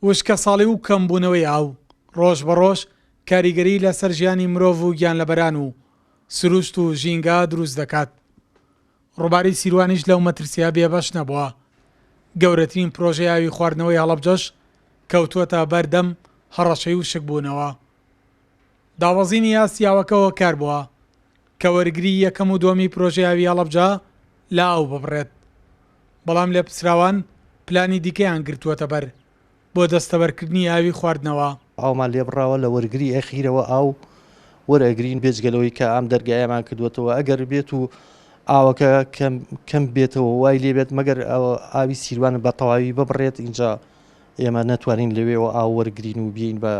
وشکەساڵی و کەمبوونەوەی ئاو ڕۆژ بە ڕۆژ کاریگەری لە سەر ژیانی مرۆڤ و گیانلەبەران و سروشت و ژینگە دروست دەکات. ڕوباری سیروانیش لەو مەترسیە بێ بەش نەبووە. گەورەترین پرۆژەی ئاوی خواردنەوەی هەڵەبجەش کەوتووەتە بەر دەم هەڕەشەی وشکبوونەوە. دابەزینی ئاستی ئاوەکە هۆکار بووە کە وەرگری یەکەم و دووەمی پرۆژەی ئاوی هەڵەبجە لە ئاو ببڕێت، بەڵام لێپرسراوان پلانی دیکەیان گرتووەتەبەر بۆ دەستەبەرکردنی ئاوی خواردنەوە. ئاومان لێبڕاوە، لە وەرگری ئەخیرەوە ئاو وەرئەگرین، بێجگە لەوەی کە ئام دەرگایەمان کردووەتەوە، ئەگەر بێت و ئاوەکە کەم بێتەوە و وای لێبێت مەگەر ئاوی سیروان بە تەواوی ببڕێت، ئینجا ئێمە ناتوانین لەوێوە ئاو وەرگرین و بین بە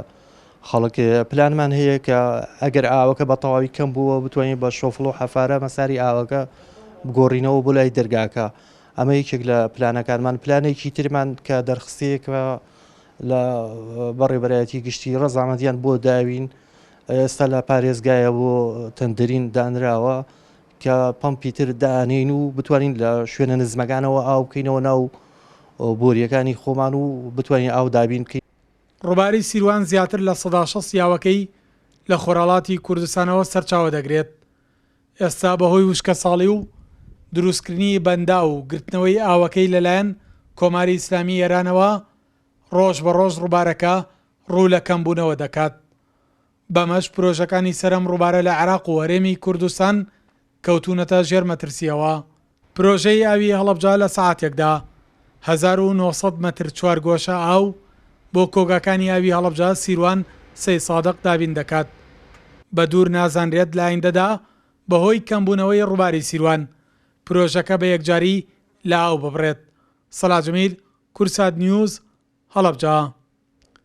خەڵک پلانمان هەیە کە ئەگەر ئاوەکە بە تەواوی کەم بووە بتوانین بە شۆفڵ و حەفارە مەساری ئاوەکە بگۆڕینەوە بۆ لای دەرگاکە ئەمە یەکێک لە پلانەکانمان پلانێکی ترمان کە دەرخستەیەکە لە بەڕێبەرایەتی گشتی ڕزانەتیان بۆ داوین ئێستا لە پارێزگایە بۆ تەندرین دانراوە کە پەمپی تر دانێین و بتوانین لە شوێنە نزمەکانەوە ئاو بکەینەوە ناو بۆریەکانی خۆمان و بتوانین ئاو دابین بکەین. ڕووباری سیروان زیاتر لە سەدا شەست ی ئاوەکەی لە خۆراڵاتی کوردستانەوە سەرچاوە دەگرێت، ئێستا بەهۆی وشکەساڵی و دروستکرنی بەنداو و گرتنەوەی ئاوەکەی لەلایەن کۆماری ئیسلامی ئێرانەوە ڕۆژ بە ڕۆژ ڕووبارەکە ڕوو لە کەمبوونەوە دەکات. بەمەش پرۆژەکانی سەرم ڕوبارە لە عێراق و هەرێمی کوردستان کەوتونەتە ژێر مەترسییەوە. پرۆژەی ئاوی هەڵەبجە لە سەعاتێکدا هەزار و نۆ سەد مەتر چوارگۆشە ئاو بۆ کۆگاکانی ئاوی هەڵەبجە، سیروان، سەیدسادق دابین دەکات. بە دوور نازانرێت لە ئایندەدا بەهۆی کەمبوونەوەی ڕوباری سیروان، پرۆژەکە بە یەکجاری لە ئاو ببڕێت. سەلاجەمیل، کورسات نیوز، هەڵەبجە.